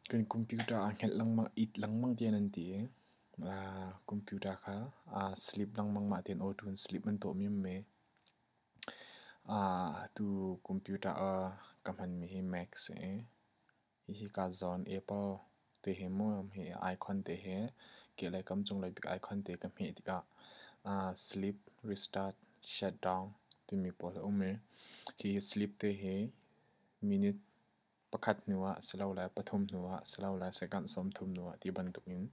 Kan computer aa hngelh lengmang, it lengmang tiah nan ti i computer kha aa sleep lengmang. Mah tihin auto in sleep nan tuah mim mi. Atu computer ka hmanmi hi Macs a si. Hihi kaa zawn Apple te he muam he icon te he kehlei kam cunglei bik icon te ka hmeh tikah uh, sleep, restart, shutdown timi pawl a um i hihi sleep te hi minute pakhat hnu ah si lo le pathum hnu ah si lo le second sawmthum hnu ah ti bantuk in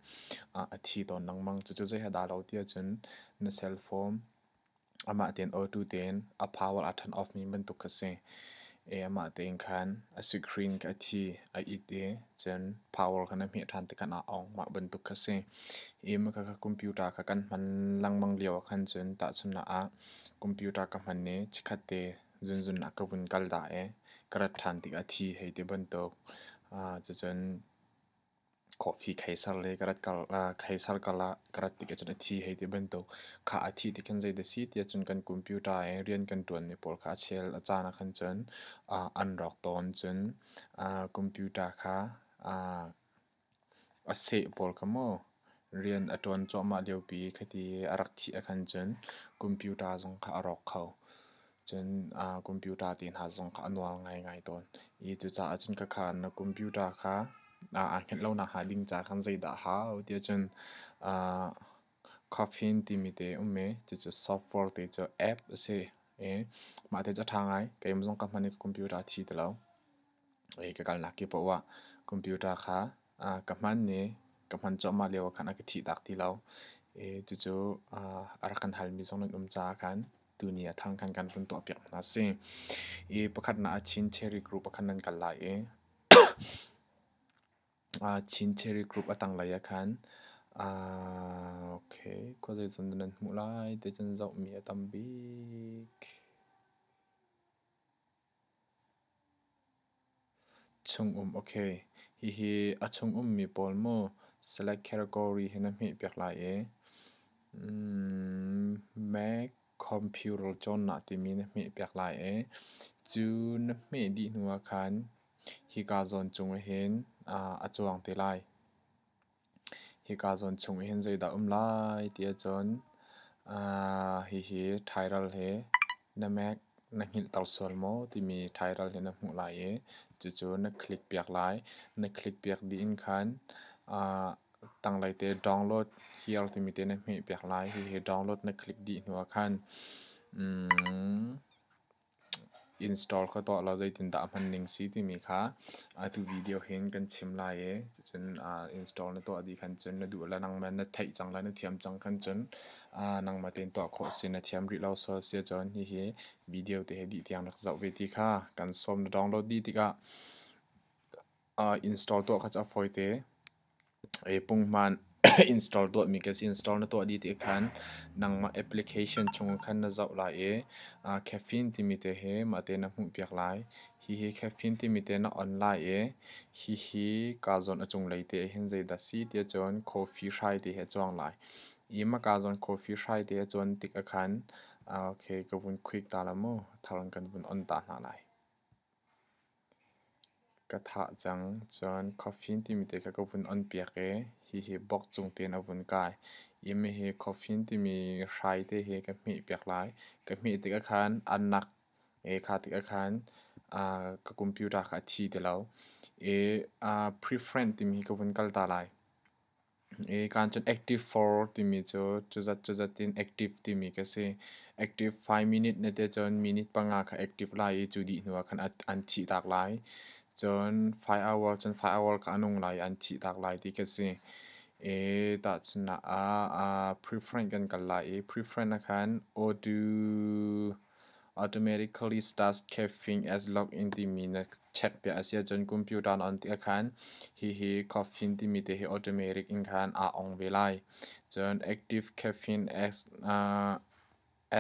uh, a thi tawn lengmang. Cucu zei ha dah lo ti ahcun na cell phone Amah tein awtu tein a power a turn off mi bantuk kha si. I amah tein khan a screen kha a thi, a it i cun power kha na hmeh ṭhan tikhan a ong mah bantuk kha si. I maka kha computer kha kan hman lengmang lio ah khan cun tahchunhnak ah computer ka hman i chikkhat te zunzunnak ka vun kal da i ka rat ṭhan tik a thi hei ti bantuk. Cucun Coffee kheisar le ka rat kal ah kheisar kal ah ka rat tik ahcun a thi hei ti bantuk. Khah a thih tikhin zei dah a si tiahcun kan computer i rian kan ṭuanmi pawl kha a chel a caan ahkhan cun ah an rawk tawn. Cun ah computer kha ah a seh pawl kha maw rian a ṭuan cuahmah liopi khiti a rak thih ahkhan cun computer zong kha a rawk kho. Cun computer ti hna zong kha a nuar ngaingai tawn i cucaah cun khakha na computer kha aa hngilh lo nakhnga ding ca khan zeidah a hau tiah cun Coffin timi te um i cucu software te cu app a si i mah te cu a ṭha ngai keimah zong ka hman i ka computer a thi ti lo. i ka kalnak kepoh ah computer kha ah ka hman i ka hman cuahmah lio ah khan a ka thihtak ti lo. I cucu a rak kan halmi zong nan um caah khan tuni a thang khan kan vun tuahpiak hna a si. I pakhatnak ah Chin Cherry Group ah khan nan kal lai i Chin Cherry Group a tanglei ah khan okay khua zeizong dah nan hmuh lai ti cun zohmi a tam bik. Chungum okay, hihi a chungum mi pawl maw select category hi na hmeh piak lai ee. Mac computer cawnnak timi na hmeh piak lai ee. Cu na hmeh dih hnu ah khan, hi kaa zawn cung ah hin a cuang te lai. Hika zawn chung i hin zeidah um lai ti ahcun hihi ṭhairal hi na Mac na hngilhter sual maw timi ṭhairal hi na hmuh lai i cucu na click piak lai. Na click piak dih in khan tanglei te download here timi te na hmeh piak lai. Hihi download na click dih hnu ah khan Install ka tuah lo zeitindah a hman ning si timi kha atu video hin kan chim lai i cucun install na tuah dih khan cun na duh le nangmah na theih cang le na thiam cang khan cun nangmah tein tuah khawh a si. Na thiam rih lo sual si ahcun hihi video te hi dih tiang rak zoh ve ti kha kan sawm na download dih tikah install tuah kha cu a fawite. Pungman install tuahmi ka si. Install na tuah dih ti khan nangmah application chungah khan na zoh lai i caffeine timi te hi mah te na hmuhpiak lai. Hihi caffeine timi te na on lai i hihi kaa zawn a cunglei te hin zeidah si ti ahcun coffee hrai te hi a cuang lai. I mah kaa zawn coffee hrai te a cuan tik ah khan ka vun click ta la mu. Thar in kan vun on ta hna lai. Ka thah cang cun coffin timi te kha ka vun on piak i hihi bok cung tein a vun kai i mihi coffin timi hrai te hi ka hmeh piak lai. Ka hmeh tikah khan a nak i kha tikah khan ka computer kha a thi ti lo i preference timi hi ka vun kal ta lai. Kaan cun active for timi cu cuzat cuzat in active timi ka si. Active five minute ne te cun minute panga kha active lai i cu dih hnuah khan an thih tak lai. Cun five hour cun five hour kha a nung lai i an thih tak lai ti ka si. Tahchunhnak ah preference kan kal lai i preference ah khan audio Automatically starts caffeine as lock-in timi na check piah a si ahcun computer na on tik ahkhan hihi caffeine timi te hi automatic in khan aa ong ve lai. Cun active caffeine as uh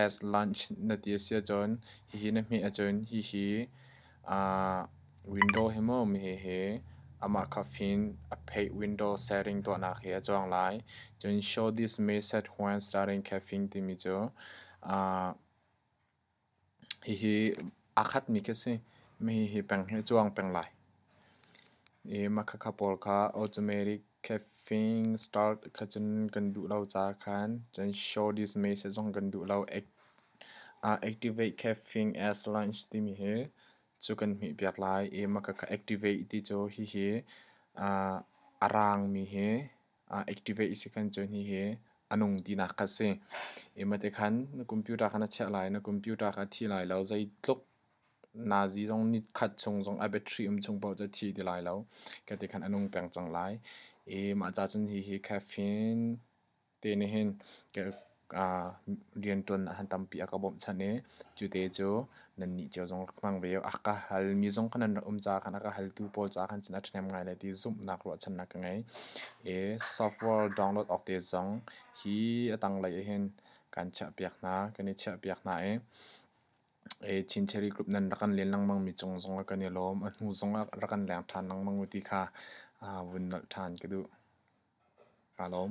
as lunch na ti a si ahcun hihi na hmeh ahcun hihi Window hi maw mihi hi amah kha fin a pheih window setting tuahnak hi a cuang lai. Cun show this message when starting caffeine timi cu hihi aa khatmi khi a si. Mihi hi peng hi a cuang peng lai. I makhakha pawl kha automatic Caffeine starch kha cun kan duh lo ca khan cun show this message zong kan duh lo. activate caffeine as lunch timi hi cu kan hmih piak lai. I maka ka activate ti cu hihi a raangmi hi activate si khan cun hihi a nung tinak kha si. I mate khan na computer kha na chiah lai, na computer kha a thi lai lo, zeitluk Nazi zong nikhat chung zong a battery um chung paoh cu thi ti lai lo. Kha ti khan a nung peng cang lai. I mah ca cun hi hi caffeine te nih hin riantuan han tampi a ka bawmhchanh i cute cu nannih cio zong hmang ve u. A ka halmi zong kha nan rak um caah khan a ka haltu pawl caah khan cun a ṭhahnem ngai lai ti zumhnak ruahchannak ka ngei. I software download awk te zong hi a tanglei ah hin kan chiahpiak hna, kan i chiahpiak hna i Chin Cherry Group nan rak kan len lengmangmi cung zong ah kan i lawm. A hnu zong ah rak kan leng ṭhan lengmang ti kha vun nolh ṭhan ka duh. Kaa lawm.